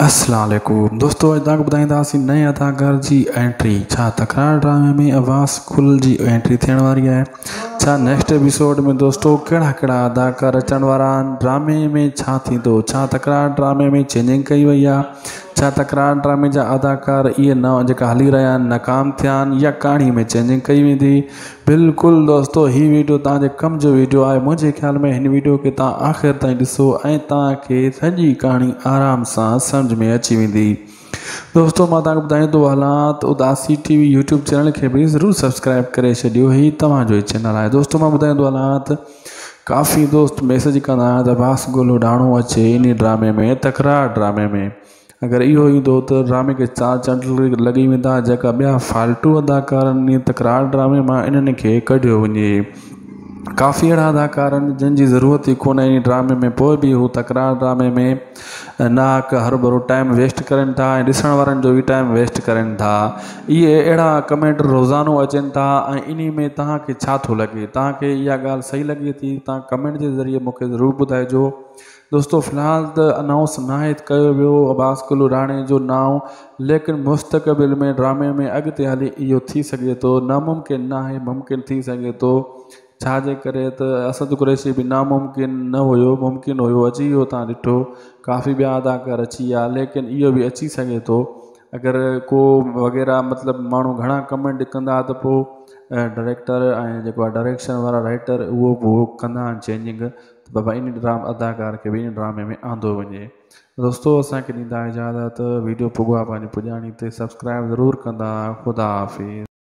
السلام عليڪم دوستو اڄ توهان کي ٻڌائينداسين نئين اداڪار جي انٽري ڇا تڪرار ڊرامي ۾ عباس گل جي انٽري ٿيڻ واري آهي ڇا نيڪسٽ ايپيسوڊ ۾ دوستو ڪهڙا ڪهڙا اداڪار اچڻ وارا آهن ڊرامي ۾ ڇا ٿيندو ڇا تڪرار ڊرامي ۾ چينجنگ ڪئي وئي آهي ڇا تڪرار ڊرامي جا اداڪار اهي نئون جيڪا هلي رهيا آهن ناڪام ٿيا آهن يا ڪهاڻي ۾ چينجنگ ڪئي ويندي بلڪل دوستو هي ويڊيو توهان جي ڪم جو ويڊيو آهي منهنجي خيال ۾ هن ويڊيو کي توهان آخر تائين ڏسو ۽ توهان کي سڄي ڪهاڻي آرام سان سمجھ ۾ اچي ويندي دوستو مان توهان کي ٻڌائين ٿو هلان ته اداسي ٽي وي يوٽيوب چينل کي به ضرور سبسڪرائب ڪري ڇڏيو هي توهان جو ئي چينل آهي دوستو مان ٻڌائين ٿو هلان ته ڪافي دوست ميسج ڪندا آهن ته باس گولو ڊاڻو اچي انهي ڊرامي ۾ تڪرار ڊرامي ۾ اگر اهو ايندو ته ڊرامي کي چار چنڊ لڳي ويندا جيڪا ٻيا فالتو اداڪار انهي تڪرار ڊرامي مان انهن کي ڪڍيو وڃي ڪافي اهڙا اداڪار آهن جن جي ضرورت ئي ڪونه انهي ڊرامي ۾ پوء به هو تڪرار ڊرامي ۾ ناحق هرڀرو ٽائيم ويسٽ ڪرين ٿا ۽ ڏسڻ وارن جو به ٽائيم ويسٽ ڪرين ٿا اهي اهڙا ڪمينٽ روزانو اچين ٿا ۽ انهي ۾ توهان کي ڇا ٿو لڳي توهان کي اها ڳالهه صحيح لڳي ٿي توهان ڪمينٽ جي ذريعي مون کي ضرور ٻڌائجو دوستو في الحال ته انائونس ناهي ڪيو ويو عباس قلو راڻي جو نانء ليڪن مستقبل ۾ ڊرامي ۾ اڳتي هلي اهو ٿي سگهي ٿو ناممڪن ناهي ممڪن ٿي سگهي ٿو ڇا جي ڪري ته اسد قريشي به ناممڪن نه هيو ممڪن هيو اچي ويو تان ڏٺو ڪافي ٻيا اداڪار اچي ويا ليڪن اهو به اچي سگهي ٿو اگر ڪو وغيره مطلب ماڻهو گهڻا ڪمينٽ ڪندا ته پو ڊريڪٽر ۽ جيڪو ڊريڪشن وارا رائٽر اهو به ڪندا آهن چينجنگ ته بابا ان ڊرام اداڪار کي به ان ڊرامي ۾ آندو وڃي دوستو اسان کي ڏيندا اجازت ويڊيو پڳو آ پنهنجي پڄاڻي تي سبسڪرائب ضرور ڪندا خدا حافظ.